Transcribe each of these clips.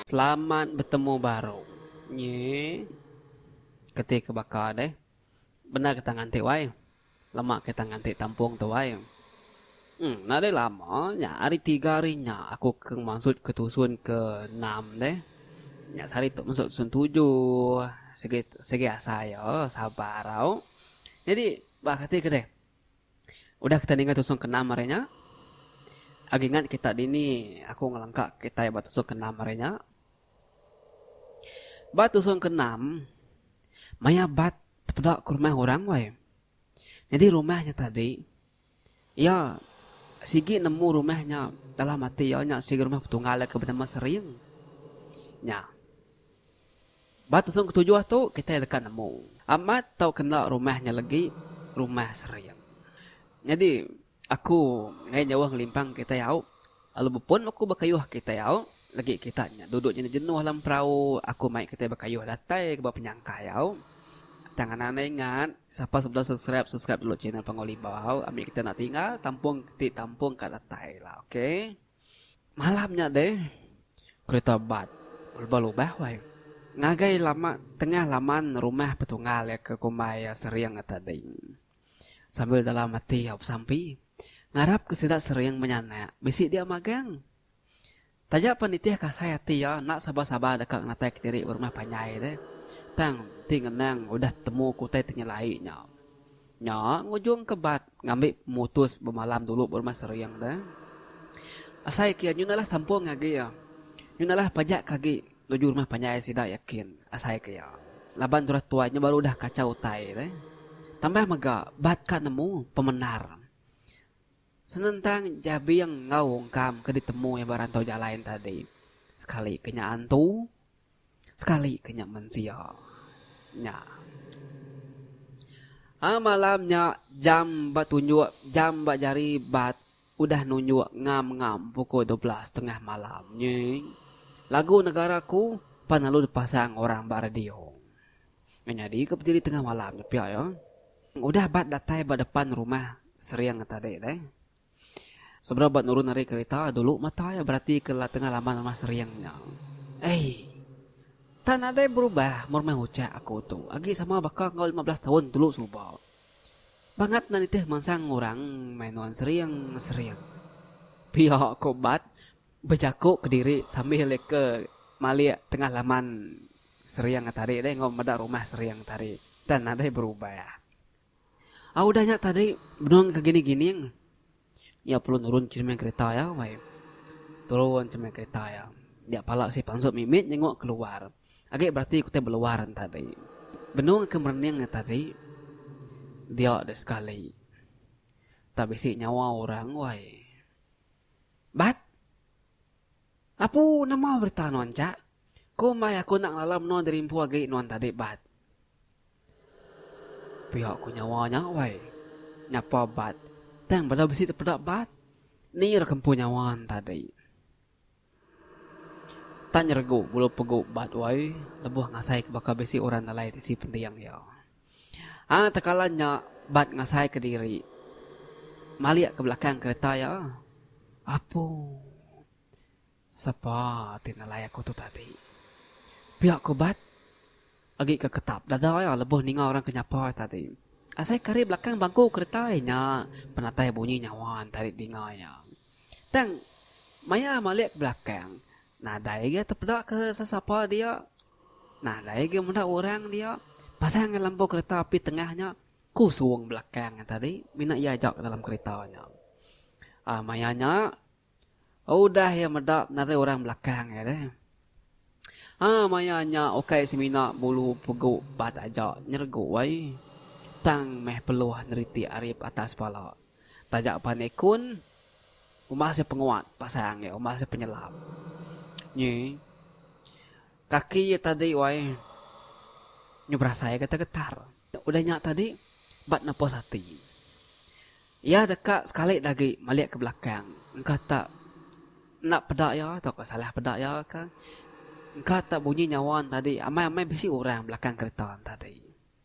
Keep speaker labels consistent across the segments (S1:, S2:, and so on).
S1: Selamat betemu baru. Nyi keti ke baka deh. Bendar getah nganti wai. Lama kita nganti tampung tu ai. Em enda deh lama nya hari tiga hari nya aku ke mansut ke tusun ke enam deh. Nya sehari tu mansut tusun tujuh. Sigi sigi asai iya sabar tau. Nyadi bah kati ke deh. Udah kita ninga tusun ke enam hari nya agi ngat kita dini aku ngelengka kitai ba tusun ke enam hari nya. Ba tusun ke enam maya bat. Tepeda ke rumah orang wai. Nyadi rumah nya tadi iya sigi nemu rumah nya dalam ati iya nya sigi rumah betunggal iya ke benama Sering nya. Ba tusung ketujuh tu kitai deka nemu amat tau kena rumah nya legi rumah Sering. Nyadi Aku ngai nyauh ngelimpang kitai au, lalu bepun aku bekayuh kitai au, lagi kita nya duduk jenuh-jenuh lem perau, aku mai kitai bekayuh datai ke ba penyangkai au. Tang anak enda ingat, sapa sida bendar subscribe, subscribe dulu channel Panggau Limba au, ambi kita enda tinggal tampung ti tampung ka datai la ok. Malam nya deh, kerita bat belubah-lubah wai ngagai lama tengah laman rumah petunggal iya ke kumbai iya Sering tadi. Sambil dalam ati Yaup Sampi ngarapka sida sering menyanak bisi dia magang. Taja pan nitih kasai ati iya enda sabar-sabar deka ngenataika diri berumah panjai deh. Tang enti ngenang udah tetemu ke utai ti nyelai nya. Nya ngujungka Bart ngambi pemutus bemalam dulu berumah sering deh. Asai ke iya nyun alah tampung agi iya. Nyun alah pajak ke agi. Nuju rumah panjai sida yakin asai ke iya laban turah tuai nya baru udah kachau utai deh. Tambah mega bat ka nemu pemendar senentang Jabing enggau Ungkam ke ditemu iya ba rantau jalai nya tadi. Sekali ke nya antu, sekali ke nya mensia nya. Aaa malam nya jam ba tunjuk jam ba jari bat Udah nunjuk ngam-ngam pukul dua belas tengah malam nyi, lagu Negara Ku pan lalu dipasang orang ba radio. Nyadi ke bediri tengah malam nya pia iya udah ba datai ba depan rumah Sering tadi deh. Sebedau ba nurun ari kereta, dulu mata iya beratika tengah laman rumah Sering nya. Ei! Tang nadai berubah mun meh ucha aku tu, agi sama baka enggau lima belas taun dulu suba. Bangat enda nitih mansang orang mai nuan sering sering. Pia ko Bat bejako kediri sambil leka malik tengah laman sering tadi deh enggau meda rumah sering tadi enda nadai berubah. Au udah nya tadi benung ke gini gining. Nya perlu nurun cermin kereta iya weh. Turun cermin kereta iya. Dia pala bisi pansut mimit nyenguk keluar. Agi berati ku ti beluar nya tadi. Benung ke merening nya tadi dia deh sekali. Tak bisi nyawa orang weh. Bat! Apu, nama berita nuan ja? Ku embai aku enda ngelala menua diri empu agi nuan tadi Bat. Pia ku nyawa nya wai. Nyapa Bat, tang bela bisi tepeda Bat. Ni ira ke empu nyawa entadi. Tak nyeregu bulu pegu Bat wai lebuh ngasai ke baka bisi orang nalai tisi pending iya. Ai tekala nya Bat ngasai ke diri malik ke belakang kereta iya. Apu. Sapa ti nelai aku tu tadi? Pia ku Bat agi ke ketap dada iya lebuh ninga orang ke nyapa iya tadi. Asai ke ari belakang bangku kereta iya nya penatai bunyi nyawa ntari dinga iya. Tang maya malik ke belakang nadai agi tepeda ke sesapa dia. Nadai agi meda orang dia. Pasang ngan lampu kereta api tengah nya kusung belakang iya tadi mina iya aja ke dalam kereta nya. Maya nya. Udah iya meda narai orang belakang iya deh. Ha maya nya ukai semina bulu pegu ba taja nyergu ai tang meh peluh neritik arip atas pala. Taja pan ikun umbah seh penguat pasang iya umbah seh penyelam. Nyi kaki iya tadi wai nyu berasai getar-getar. Udah nya tadi, ba nepus ati iya deka sekali agi malik ke belakang engka tak enda peda iya tauka salah peda iya ka engka tak bunyi nyawa ne tadi amai-amai bisi orang belakang kereta ne tadi.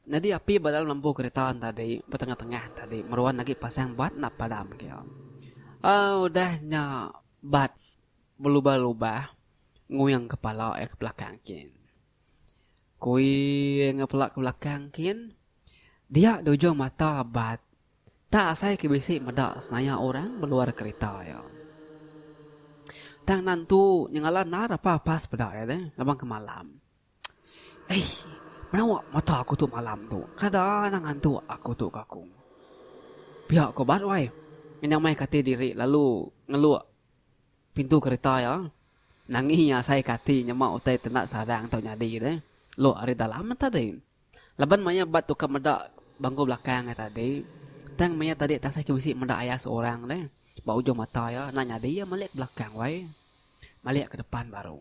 S1: Nyadi api ba dalam lembu kereta ne tadi ba tengah-tengah ne tadi meruan agi pasang bat enda padam agi iya. Au udah nya bat belubah-lubah nguing kepala iya ke belakang gin. Kui enggau pela ke belakang kin. Dia di ujung mata bat. Tak asai ke bisi meda senaya orang beluar kerita iya. Tang nan tu nyengala nar apa pas peda iya deh laban ke malam. Eii menawa mata aku tu malam tu kada anang ngantuk aku tu ke aku. Pia ko bat wai. Menyamai ke ati diri lalu ngeluk. Pintu kerita iya. Nangi iya asai kati nyema utai tenda sadang tau nyadi deh. Lok ari dalam meh tadi. Laban maya ba tukar meda bangku belakang iya tadi, tang maya tadi tasai ke bisi meda iya seorang deh. Ba ujung mata iya enda nyadi iya malik ke belakang wai. Malik ke depan baru.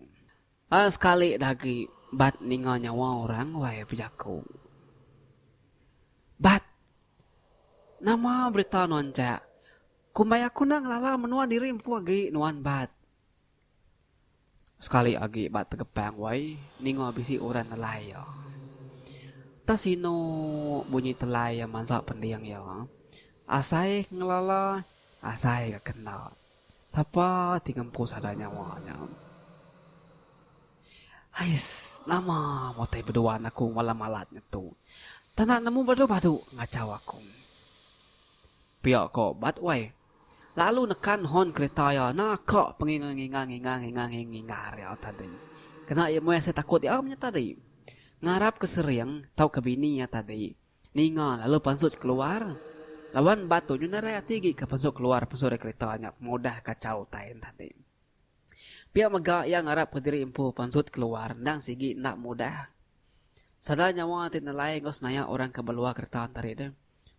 S1: Aa sekali dah agi bat ninga nyawa orang wai bejaku. Bat! Nama berita nuan jak? Kumbai aku nang lala menua diri empu agi nuan bat. Sekali agi ba tegepang wai ninga bisi orang nelai iya. Entah sinu bunyi telai iya mansa pending iya. Asai ke ngelala, asai ka ke enda. Sapa ti ngempu sada nyawa nya. Hais, nama mu utai beduan aku malam alat ngetu. Tanda nemu badu-badu ngachau aku. Pia ko Bat Wai lalu nekan horn kereta iya naka penginga nginga nginga nginga nginga nginga ria tadi. Kena iya meh asai takut iya menya tadi. Ngarap ke Sering tauka bini iya tadi ninga lalu pansut keluar laban Bat tu nyu nerai ati agi ke pansut keluar pansut ari kereta nya pengudah kachau utai tadi. Pia mega iya ngarap ke diri empu pansut keluar endang sigi enda mudah. Sada nyawa ti nelai enggau senaya orang ke beluar kereta tadi deh.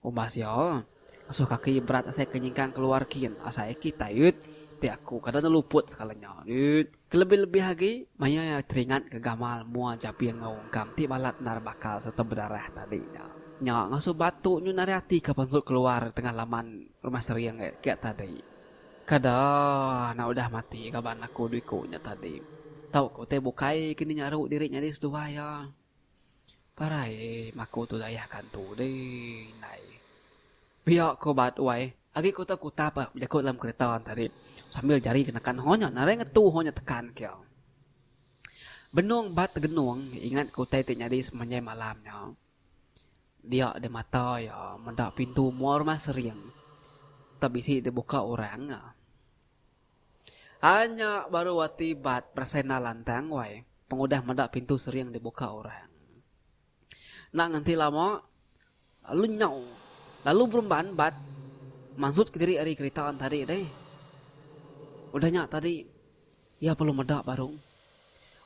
S1: Umbah sia, ngasuh kaki iya berat asai ke nyingkang keluar kin asai kitai dut. Ti aku kada enda luput sekala nya dut. Kelebih-lebih agi, maya iya teringat ke gamal mua jabing enggau ungkam ti balat endar bakal sereta bedarah tadi nya. Nya ngasuh batu nyu nari ati ke pansut keluar tengah laman rumah sering agi tadi. Kada anak udah mati kaban aku dua iku nya tadi. Tauka utai bukai ke dinyaru diri nyadi seduai iya. Parai em aku tu dayah kantu deh indai. Pia ko ba tuai agi ko tau kuta pah bejaku dalam kereta tadi sambil jari ke nekan ho nya nadai ngetu ho nya tekan kia. Benung ba tegenung ingat ko utai ti nyadi semenjai malam nya. Dia deh mata iya meda pintu mua rumah Sering tau bisi dibuka orang. Anya baru ati bat berasai enda lantang wai pengudah meda pintu sering dibuka orang. Enda ngenti lama, lalu nyau lalu beremban bat mansut ke diri ari kerita entadi deh. Udah nya tadi, iya perlu meda baru.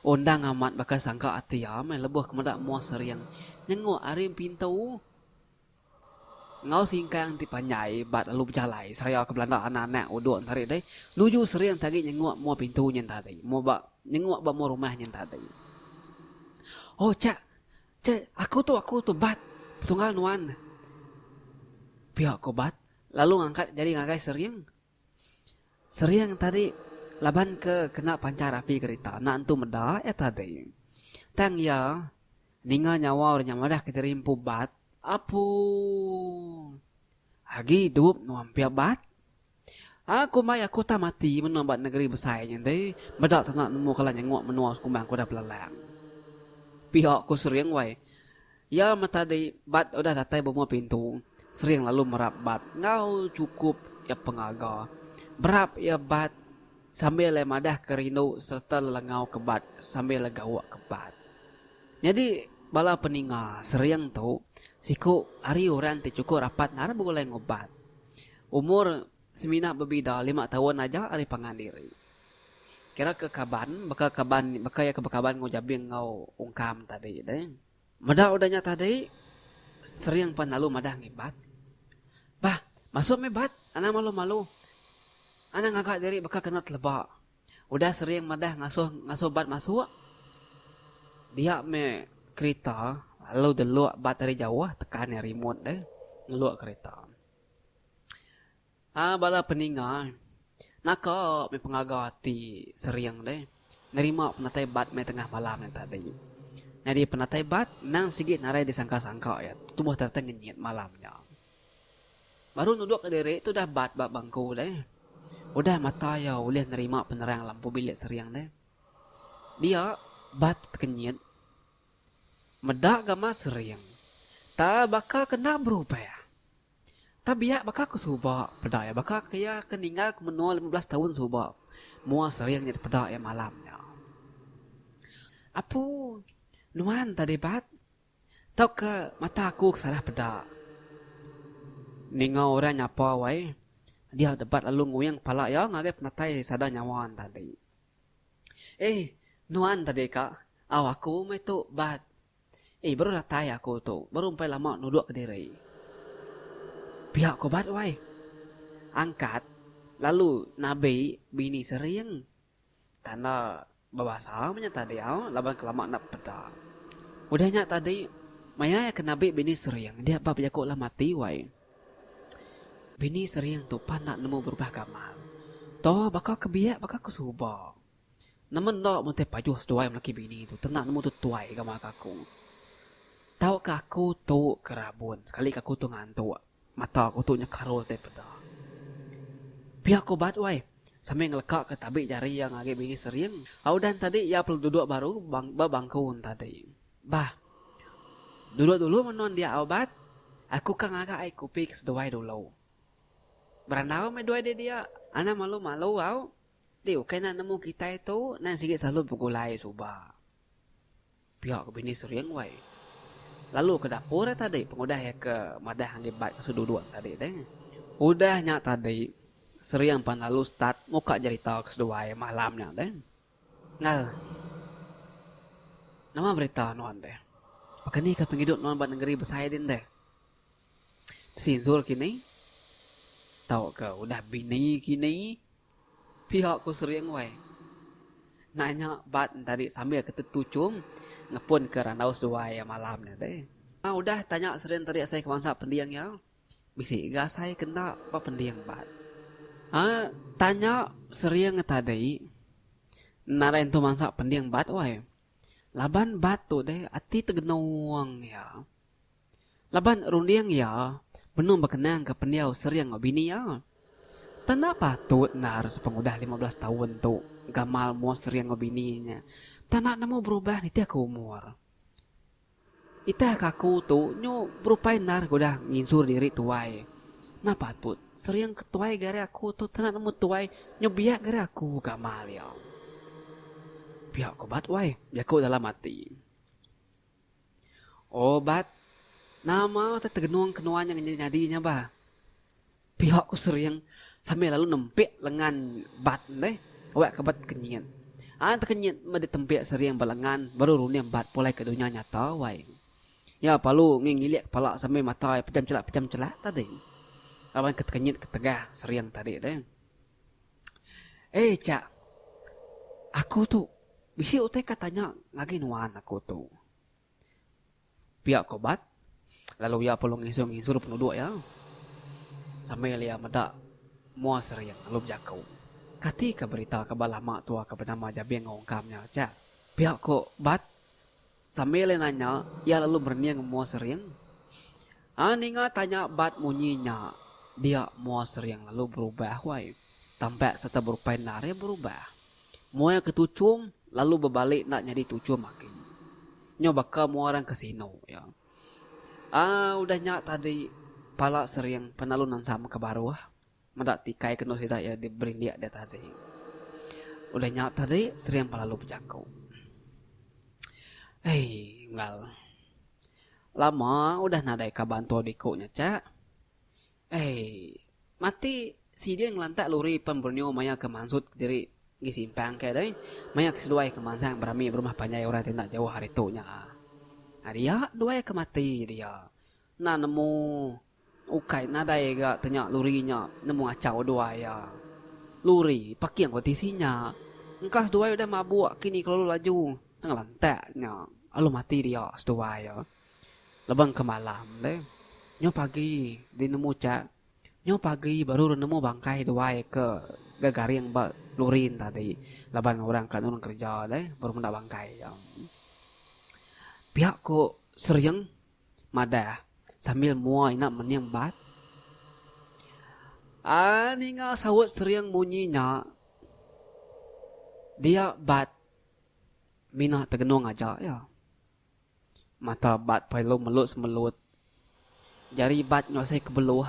S1: Undang amat baka sangka ati iya meh lebuh ke meda mua sering nyenguk ari pintu. Enggau singkang ti panjai ba lalu bejalai seraya ke belanda anak-anak udok entari dei nuju sering tagi nyenguk mua pintu nyen tadi mua ba nyenguk ba mua rumah nyen tadi. Oh chak, chak, aku tu, aku tu Bat, petunggal nuan. Pia ko Bat lalu ngangkat jari ngagai sering. Sering tadi laban ke kena pancar api kerita anak entu meda iya tadi. Tang iya ninga nyawa orang nya madah ke diri empu bat. Apu agi idup nuan pia bat. Aku mai aku tah mati menua ba negeri besai nya deh meda tau nak nemu kala nyenguk menua sekumbang aku udah belalang. Pia ku sering wai Iya meta di bat udah datai bumah pintu sering lalu merap bat enggau chukup iya pengaga. Merap iya bat sambil iya madah ke rindu sereta lelengau ke bat sambil iya gawa ke bat. Nyadi bala peninga sering tu siku ari orang ti chukup rapat ngarap begulai enggau bat. Umur semina bebida lima taun aja ari pangan diri. Kira ke kaban baka kaban baka iya ke bekaban enggau Jabing enggau Ungkam tadi deh. Meda udah nya tadi, sering pan lalu madah ngibat. Bah, masu meh bat, anang malu-malu. Anang ngaga diri baka kena teleba. Udah sering madah ngasuh ngasuh bat masuk, dia meh kerita lalu delok bat ari jauh tekan remote deh ngelok kerita. A Bala peninga naka meh pengaga ti sering deh nerima penatai bat meh tengah malam nya tadi. Nyadi penatai bat endang sigi nadai disangka-sangka iya tubuh teratai ngenyit malam nya. Baru nuduk ka diri tu udah bat ba bangku deh. Udah mata iya ulih nerima penerang lampu bilik sering deh. Dia bat kenyit. Meda gamas sering. Taal baka kena berubah. Tang biak baka ku suba peda iya baka ke iya ke ninggal ke menua lima belas taun suba mua sering nyadi peda iya malam nya. Apu nuan tadi bat tauka mata aku ke salah peda. Ninga orang nyapa wai dia deh bat lalu nguing kepala iya ngagai penatai sada nyawa ne tadi. Eih nuan tadi ka au aku meh tu bat. Ih baru datai aku tu, baru empai lama nuduk kediri. Pia ko bat wai. Angkat lalu nabi bini sering. Tanda bebasa menya tadi au laban kelama enda peda. Udah nya tadi maya iya ke nabi bini sering dia ba bejaku alah mati wai. Bini sering tu pan enda nemu berubah gamal. Toh baka ke biak baka ke suba. Nama enda meh utai pajuh seduai melaki bini tu tena nemu tu tuai gamak ke aku. Tau ke aku tu ke rabun sekali ke aku tu ngantok. Mata aku tu nya karul utai peda. Pia aku bat wai sambil ngeleka ke tabi jari iya ngagi bini sering. Au udah entadi iya perlu duduk baru ba bangku entadi. Bah. Duduk dulu menua dia au bat. Aku ka ngaga ai kupi ke seduai dulu. Berandau meh duai di dia. Anang malu-malu au. Enti ukai enda nemu kitai tu nan sigi selalu begulai suba. Pia ke bini Sering wai. Lalu ke dapur ai tadi pengudah iya ke madah enggi bat ngasu duduk nya tadi deh. Udah nya tadi Sering pan lalu start muka jerita ke seduai malam nya deh. Ngal. Nama berita nuan deh. Baka ni ka pengidup nuan ba nengeri besai din deh. Besinzur kini tauka udah bini kini. Pihak ku Sri Engway nanya Bat tadi sambil ke tetu chum ngepun ke randau seduai iya malam nya deh. Tang udah tanya Sri Engway tadi asai ke bansa pending iya, bisi ga asai ke enda ba pending Bat. Aa tanya Sri Engway tadi nadai nentu bansa pending Bat wai. Laban Bat tu deh ati tegenung iya. Laban runding iya benung bekenangka pendiau Sering enggau bini iya. Tang enda patut endar sepengudah lima belas taun tu gamal mua Sering enggau bini nya tang enda nemu berubah nitihka umur. Nitihka aku tu nyu berupai endar ke udah nginsur diri tuai. Enda patut Sering ke tuai ga ari aku tu tang enda nemu tuai nyu biak ga ari aku gamal iya. Pia ku Bat wai jaku dalam ati. O Bat, nama utai tegenung ke nuan nya nyadi nya bah? pihok ku Sering sambil lalu nempik lengan Bat deh awak ke Bat tekenyit. Ai tekenyit meh ditempik Sering ba lengan baru runing Bat pulai ke dunya nyata wai. Iya palu ngi ngilik kepala sambil mata iya pejam chelak pejam chelak tadi laban ke tekenyit ketegah Sering tadi deh. Eh cha. Aku tu bisi utai ka tanya ngagai nuan aku tu. Pia ko Bat lalu iya pulung nginsur-nginsur penuduk iya sambil iya meda mua sering lalu bejaku. Kati ka berita ke ba lama tua ke benama Jabing enggau Ungkam nya cha? Pia ko Bat sambil iya nanya iya lalu merening mua sering. Aa ninga tanya bat munyi nya dia mua sering lalu berubah wai. Tambak serta berupai endar iya berubah. Mua iya ke tuchum lalu bebalik enda nyadi tuchum agi. Nyau baka mua orang ke sinu iya. Aa udah nya tadi pala sering penalu nansam ke baruh. Meda tikai kenu sida iya diberindik deh tadi. Udah nya tadi Sering pah lalu bejaku. Hei Enggau. Lama udah nadai ka bantu diku nya cha. Hei mati sidin ngelantak luri pen Borneo maya ke mansut kediri ngi simpang ke deh. Maya ke seduai ke mansang berami berumah panjai orang ti enda jauh ari tu nya. Ari iya duai ke mati dia. Enda nemu. Ukai nadai ga tenya luri nya nemu achau duai iya. Luri paking ko tisi nya. Engkas duai udah mabuk kini kelalu laju ngelantak nya alu mati dia seduai iya. Leban ke malam deh. Nyu pagi di nemu chak. Nyu pagi baru re nemu bangkai duai ke ga garing ba luri nya tadi laban orang ka nulung kerja deh baru meda bangkai iya. Pia ko Serieng. madah sambil mua ina mening bat. Ai ninga saut sering munyi nya, dia bat mina tegenung aja iya. Mata bat perelu melut-semelut, jari bat nyuasai ke beluh,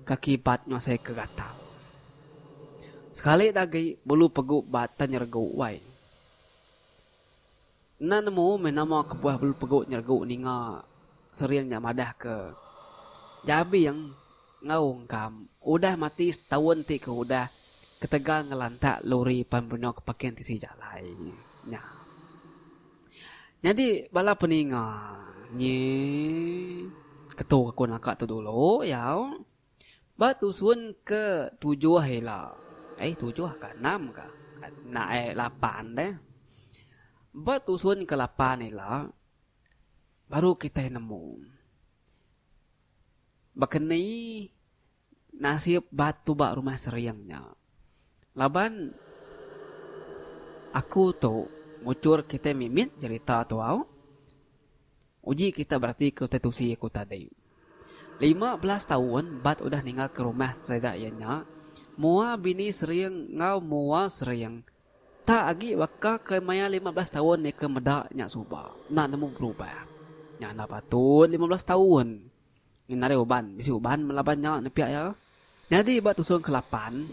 S1: kaki bat nyuasai ke gatau. Sekali agi bulu pegu bat tenyeregu wai. Enda nemu meh nama kebuah belu pegu nyeregu ninga sering nya madah ke Jabing enggau Ungkam udah mati setaun ti ke udah ketegal ngelantak lori pan benung ke pakin tisi jalai nya. Nyadi bala peninga nyi ketu aku naka tu dulu yau. Ba tusun ke tujuh ila, ai tujuh ka enam ka enda ai lapan deh. Ba tusun ke lapan ila baru kitai nemu baka ni nasib ba tuba rumah sering nya. Laban aku tu mujur kitai mimit jerita tau. Uji kita beratika utai tusi aku tadi. Lima belas taun Bat udah ninggalka rumah sida iya nya, mua bini sering enggau mua sering. Tak agi baka ke maya lima belas taun iya ke meda nya suba, enda nemu berubah. Nya enda patut lima belas taun ngena ari uban, bisi uban melaban nya nepia iya. Nyadi ba tusung ke lapan,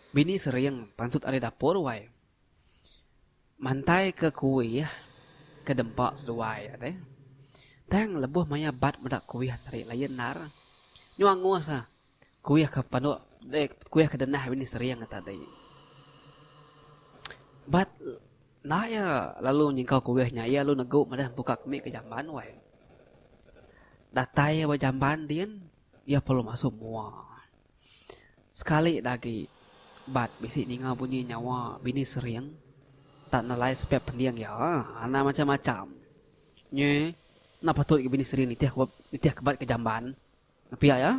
S1: bini sering pansut ari dapur wai. Mantai ke kuih ke dempa seduai deh. Tang lebuh maya bat meda kuih ati ari laie endar. Nyau angus ah kuih ke panu kuih ke denah bini sering ati adi. Bat enda iya lalu nyingkau kuih nya iya lalu negu madah empu ka kemi ka jamban wai. Datai iya ba jamban din iya perlu masu mua. Sekali dagi Bat bisi ninga bunyi nyawa bini sering tak nelai sepek pending iya anak macam macam nyi enda patut agi bini sering nitih nitih ke Bat ke jamban pia iya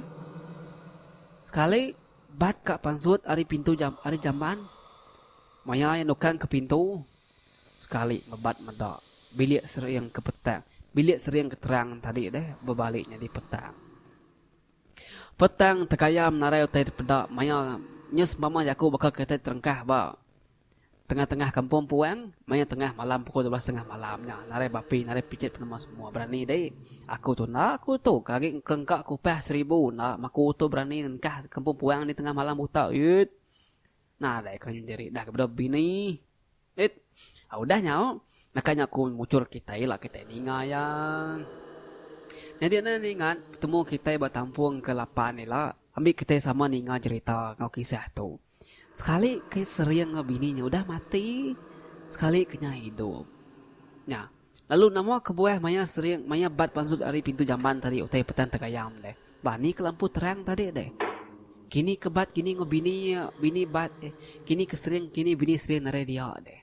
S1: sekali Bat ka pansut ari pintu ari jamban maya iya nukang ke pintu sekali meh Bat meda bilik sering ke petang bilik sering ke terang tadi deh bebali nyadi petang. Petang tekaya menarai utai dipeda maya nya sempama jaku baka kitai terengkah ba tengah-tengah kampung puang maya tengah malam pukul dua belas setengah malam nya narai bapi narai pijit penemu semua berani dei aku tu enda aku tu ke agi ke engka kupah seribu enda maku tu berani nengkah kampung puang ni tengah malam buta iyit. Nah alai aku nyu diri dah ke bedau bini. It. Au dah nyau. Naka nya aku muchur kitai ila kitai ninga iya. Nyadi enda ningat betemu kitai ba tampung ke lapan ila ambi kitai sama ninga jerita enggau kisah tu. Sekali ke sering enggau bini nya udah mati, sekali ke nya idup. Nya. Lalu nama kebuah maya sering maya bat pansut ari pintu jamban tadi utai Petan Tegayam deh. Bah ni ke lampu terang tadi deh. Kini ke bat kini enggau bini iya, bini bat deh. Kini ke sering kini bini sering narai dia deh.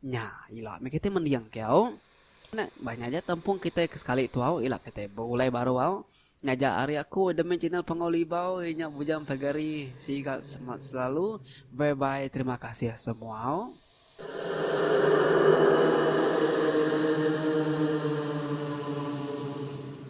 S1: Nya ila meh kitai mending ke au. Nya, bah nya aja tempung kitai ke sekali tu au ila kitai begulai baru au. Ngajar ari aku demi channel Panggau Libau inya bujang pagari siga semangat selalu bye bye terima kasih semua.